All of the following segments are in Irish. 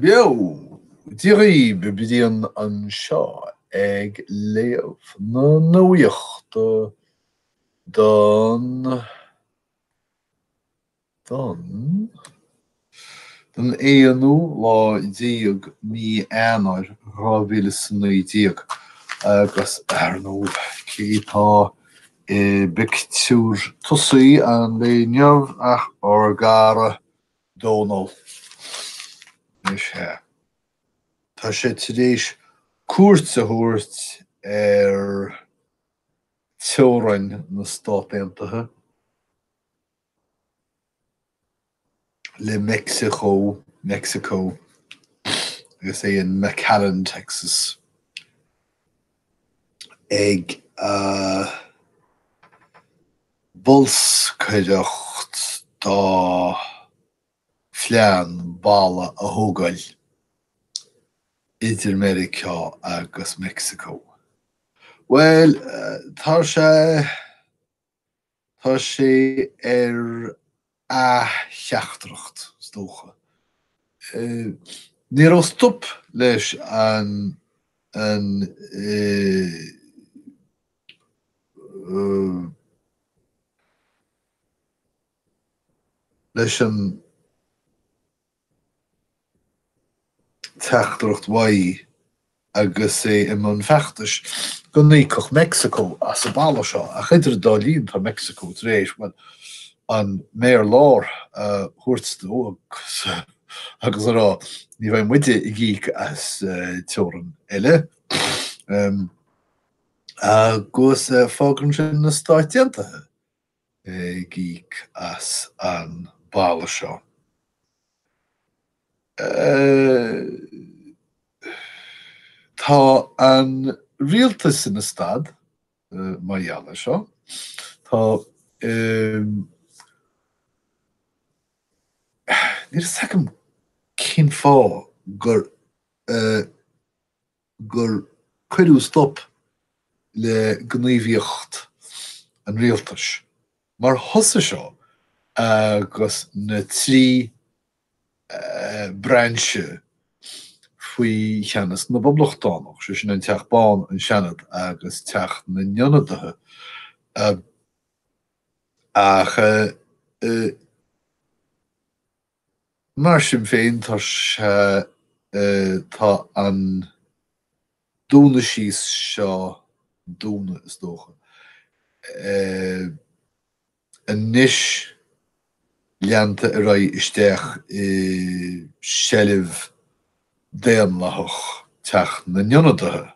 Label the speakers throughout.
Speaker 1: Beo! Dia dhaoibh! Brian anseo ag léamh na nuachta don don don aonú lá déag mí Eanáir dhá mhíle is a naoi déag agus ar ndóigh cé tá I bpictiúr tosaí an lae inniu ach ár gcara Dónal. Anois hea. Tá sé tar éis cuairt a thabhairt ar teorainn na Stát Aontaithe. le Mexico, Mexico, agus é in McAllen, Texas, ag bolscaireacht dá phlean balla a thógáil idir Meiriceá agus Mexico. Bhuel, tá sé. Tá sé ar a theachtaireacht, is dócha. Ní raibh stop leis an leis an. teachtaireacht. Mhaígh agus é i mbun feachtais go n-íocfadh Mexico as an balla seo ach idir an dá linn tá Mexico tar éis, bhuel, an méar láir a thabhairt dó agus a rá ní bheidh muide ag íoc as teorainn eile agus fágann sin na Stáit Aontaithe ag íoc as an balla seo. Tá an rialtas ina stad mar gheall ar seo. Tá Níl a fhios agam cén fáth gur. gur cuireadh stop le gníomhaíocht an rialtais mar thosaigh seo agus na trí brainse faoi cheannas na bPoblachtánach, sé sin an Teach Bán, an Seanad agus Teach na nIonadaithe, ach. Mar sin féin, tá tá an dúnadh síos seo dúnadh, is dócha. anois leanta ar aghaidh isteach i seilbh daonlathach Teach na nIonadaithe.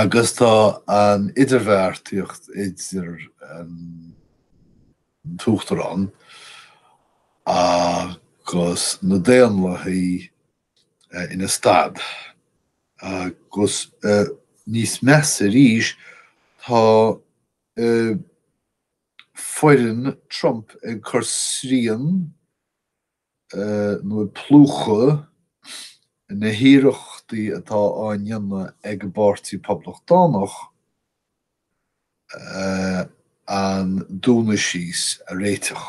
Speaker 1: agus tá an idirbheartaíocht idir an tUachtarán agus na Daonlathaigh ina stad, agus níos measa arís, tá foireann Trump ag cur srian, nó ag plúchadh na hiarrachtaí atá á ndéanamh ag an bPáirtí Poblachtánach an dúnadh síos a réiteach.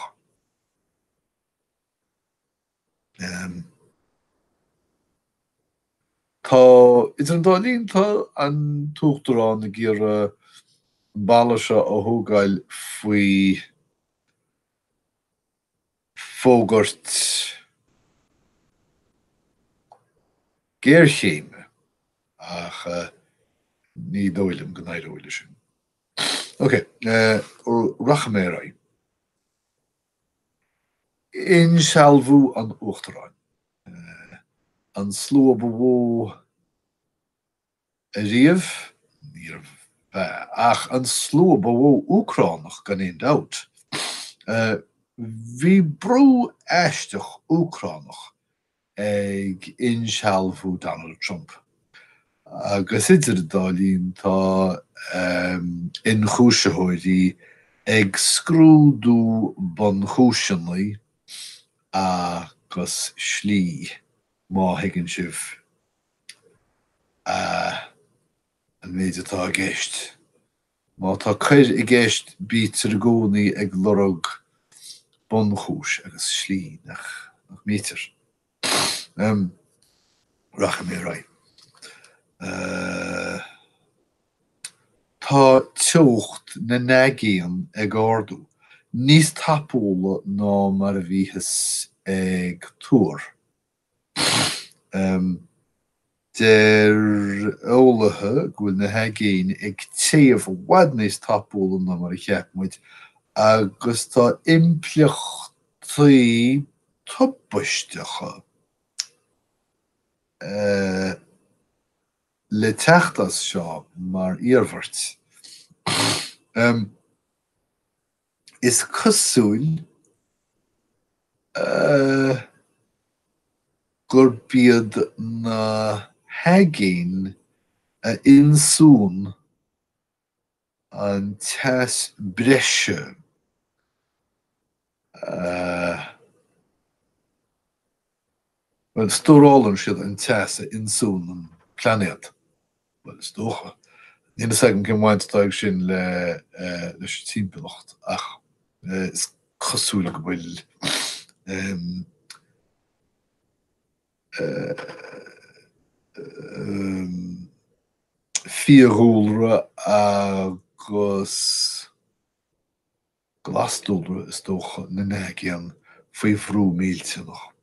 Speaker 1: Tá, idir an dá linn, tá an tUachtarán ag iarraidh an balla seo a thógáil faoi fhógairt géarchéime ach ní dóigh liom go n-éireoidh leis sin. Ok, rachaidh mé ar aghaidh. Insealbhú an Uachtaráin. An slua ba mhó. Ariamh níorbh ea, ach an slua ba mhó Úcránach gan aon dabht. Bhí bród aisteach Úcránach ag insealbhú Donald Trump, agus idir an dá linn tá ionchúisitheoirí ag scrúdú bunchúiseanna agus slí, má thuigeann sibh. a. An méid atá i gceist. Má tá coir i gceist bítear i gcónaí ag lorg bunchúis agus slí, nach mbítear? Em. Rachaidh mé ar aghaidh. a. Tá teocht na n-aigéan ag ardú níos tapúla ná mar a bhíothas ag tuar. Deir eolaithe go bhfuil na haigéin ag téamh i bhfad níos tapúla ná mar a cheap muid agus tá impleachtaí tubaisteacha le teacht as seo mar iarmhairt. Is cosúil gurb iad na haigéin a ionsúnn an teas breise eh. Bhuel, stórálann siad an teas a ionsúnn an plainéad. Bhuel, is dócha. Níl fhios agam cén bhaint atá ag sin le leis an timpeallacht ach is cosúil go bhfuil ehm ehm fiadhúlra agus. glas-dúlra is dócha, na n-aigéan faoi bhrú millteanach.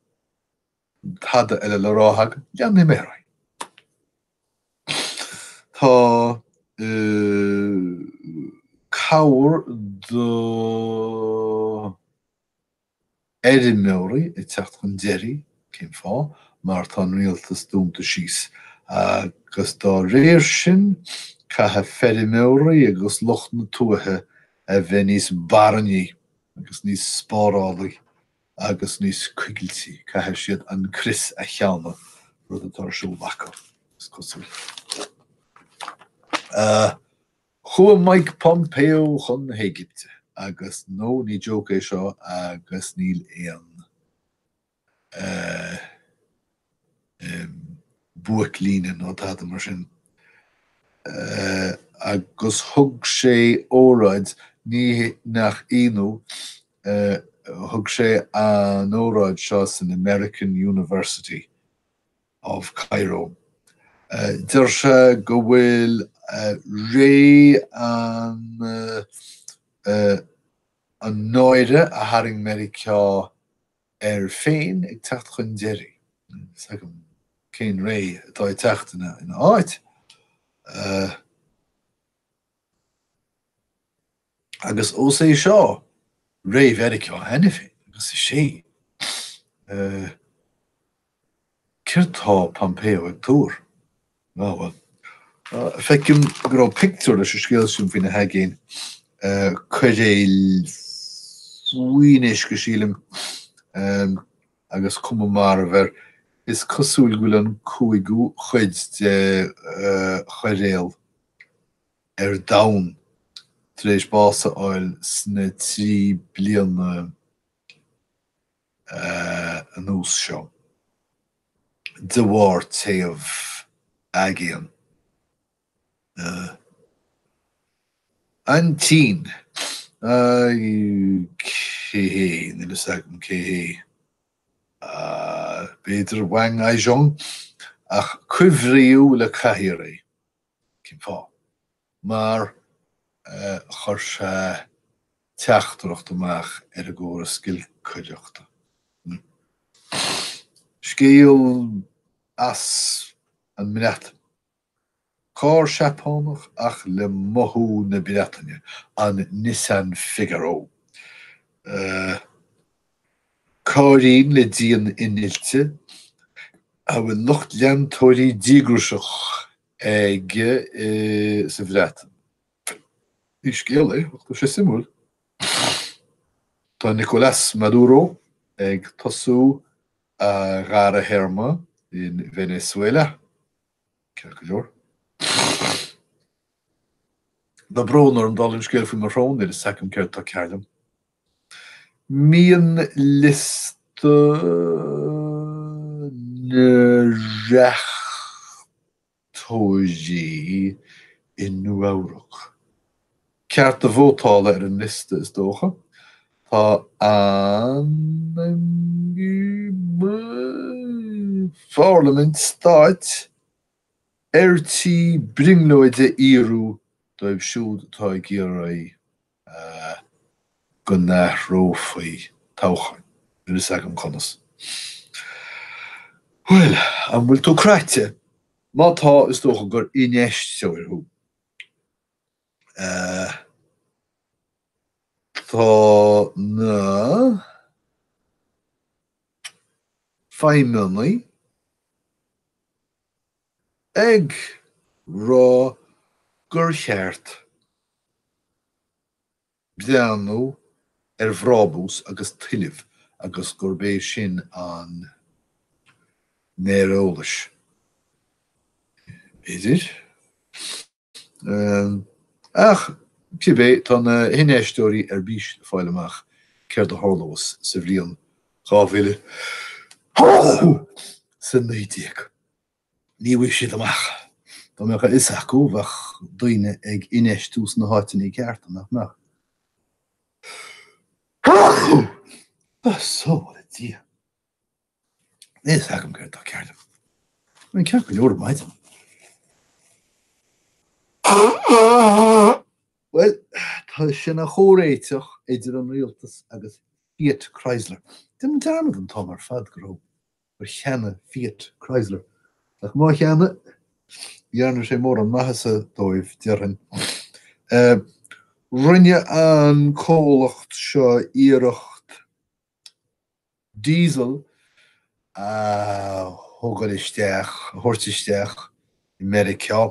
Speaker 1: An tada eile le rá agam? Leanfaidh mé ar aghaidh. Tá cabhair do. fheirmeoirí ag teacht chun deiridh, cén fáth? Mar tá an rialtas dúnta síos agus dá réir sin caithfidh feirmeoirí agus lucht na tuaithe a bheith níos barainní agus níos spárálaí agus níos coigiltí, caithfidh siad an crios a theannadh, rud atá ar siúl acu, is cosúil. Chuaigh Mike Pompeo chun na hÉigipte agus no, ní joke é seo agus níl aon eh. em. buaic-líne nó tada mar sin eh. agus thug sé óráid, ní nach ionadh eh, thug sé an óráid seo san American University. of Cairo. Deir sé go bhfuil ré an náire a tharraing Meiriceá air féin ag teacht chun deiridh. Níl a fhios agam cén ré atá ag teacht ina áit. Agus ós é seo ré Mheiriceá cheana féin, agus is é, eh, céard tá Pompeo ag tuar? Á, bhuel, eh, feicim go raibh pictiúr leis an scéal sin faoi na haigéin, eh, coiréil faoin uisce, sílim, em, agus cuma marbh air. Is cosúil go bhfuil an cúigiú chuid de, eh, choiréal ar domhan. Tar éis bás a fháil sna trí bliana anuas seo de bharr téamh aigéan na Xi, cé hé, níl a fhios agam cé hé, b'fhéidir Wang Aizhong, ach cuimhríodh le cathaoir é. Cén fáth? Mar chuir sé teachtaireacht amach ar an gcóras giolcaireachta. Scéal as an mBreatain. Carr Seapánach ach le mothú na Breataine, an Nissan Figaro. Cairrín le díon innilte a bhfuil lucht leantóirí díograiseach aige sa Bhreatain. Ní scéal é, ach tá sé suimiúil. Tá Nicolás Maduro ag tosú a dhara théarma in Venezuela, ceart go leor. Tá brón orm, dála an scéil, faoi mo shrón níl a fhios agam céard atá cearr liom. Mianliosta na reachtóirí i Nua-Eabhrac. Cearta vótála ar an liosta, is dócha. Tá an pharlaimint stáit ar tí brionglóid a fhíorú dóibh siúd atá ag iarraidh go n-athrófaí toghcháin? Níl a fhios agam conas. Bhuel, an bhfuil tú cráite? Má tá, is dócha gur infheisteoir thú. Tá na feidhmeannaigh ag rá gur cheart breathnú ar bhrabús agus tuillimh agus gurb é sin an méar eolais idir. Ach, cibé, tá na hinfheisteoirí ar bís le fáil amach céard a tharlós sa bhliain 2019. Ní bhfaighidh siad amach. Dá mbeadh a fhios acu, bheadh daoine ag infheistiú sna háiteanna cearta, nach mbeadh? So let's! Níl fhios agam céard atá cearr liom. Bhí mé ceart go leor ar maidin. Bhuel, tá sé ina chomhréiteach idir an rialtas agus Fiat Chrysler. Déanaim dearmad an t-am ar fad go raibh, gur cheannaigh Fiat Chrysler. Ach má cheannaigh, ní dhearna sé mórán maitheasa dóibh, déarfainn. Rinne an comhlacht seo iarracht Diesel a thógáil isteach, a thabhairt isteach i Meiriceá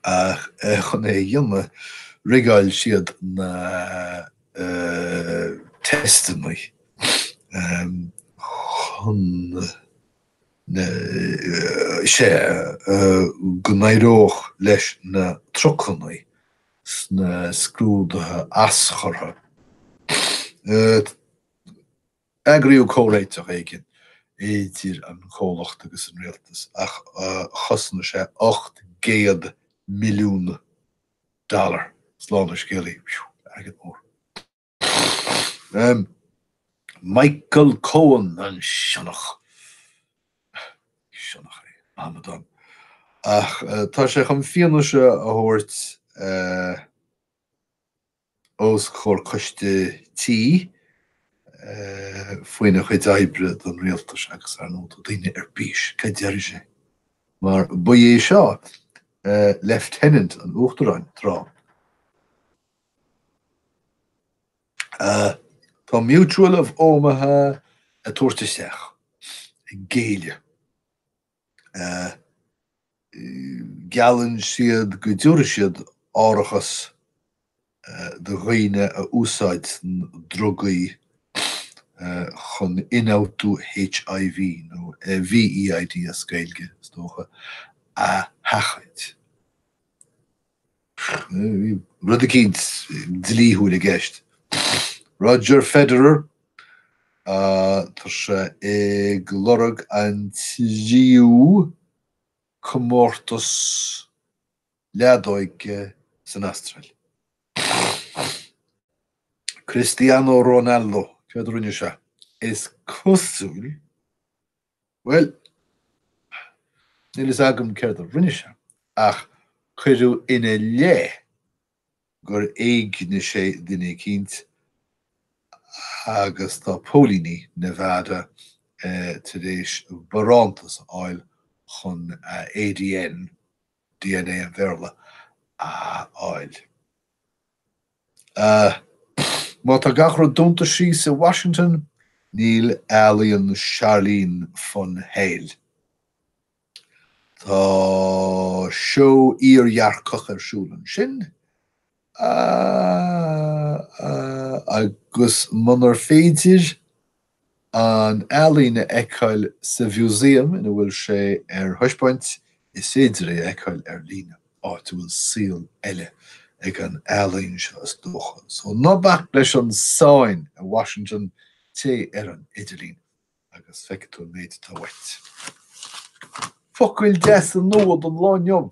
Speaker 1: agus chun é a dhéanamh rigeáil siad na teisteannaí chun, sa go n-éireodh leis na trucannaí sna scrúduithe aschurtha. Eagraíodh comhréiteach éigin idir an comhlacht agus an rialtas ach chosain sé 800 milliún dollar. Slán an scéalaí, airgead mór. Michael Cohen, an sionnach. Sionnach é, amadán. Ach tá sé chun fianaise a thabhairt os comhair coiste tí faoina chuid oibre don rialtas agus ar ndóigh tá daoine ar bís céard a déarfaidh sé mar ba é seo lieutenant an uachtaráin tráth. Tá Mutual of Omaha ag tabhairt isteach, ag géilleadh. Geallann siad go dtabharfaidh siad árachas do dhaoine a úsáideann drugaí chun ionfhabhtú HIV, nó VEID as Gaeilge, is dócha, a sheachaint. Rud eicínt dlíthiúil i gceist. Roger Federer, tá sé ag lorg an tríú comórtas leadóige san Astráil. Cristiano Ronaldo, céard a rinne sé? Is cosúil. Bhuel, níl fhios agam céard a rinne sé ach cuireadh ina leith gur éignigh sé duine eicínt agus tá póilíní Nevada tar éis barántas a fháil chun ADN, dna an Bhéarla a fháil. Má tá gach rud dúnta síos i Washington, níl ealaíon Charline von Heyl. Tá seó iardhearcach ar siúl ansin, agus munar féidir an ealaín a fheiceáil sa mhúsaem ina bhfuil sé ar thaispeáint, is féidir é a fheiceáil ar líne, áit a bhfuil saol eile ag an ealaín seo is dócha. So ná bac leis an sáinn i Washington, téigh ar an idirlíon agus feicfidh tú an méid atá uait. Focail deasa nua don lá inniu!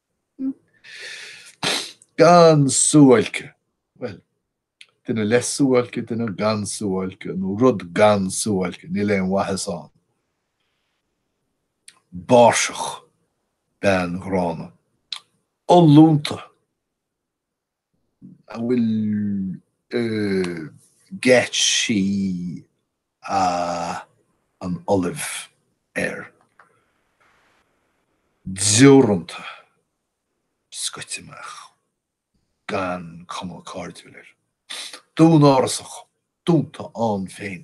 Speaker 1: Gan suáilce. Bhuel, duine le suáilce, duine gan suáilce, nó rud gan suáilce, níl aon mhaitheas ann. Báirseach. Bean ghránna. Ollúnta. A bhfuil geáitsí an ollaimh air? Deoranta, scoite amach, gan cuma cairdiúil air. Dúnárasach, dúnta ann féin.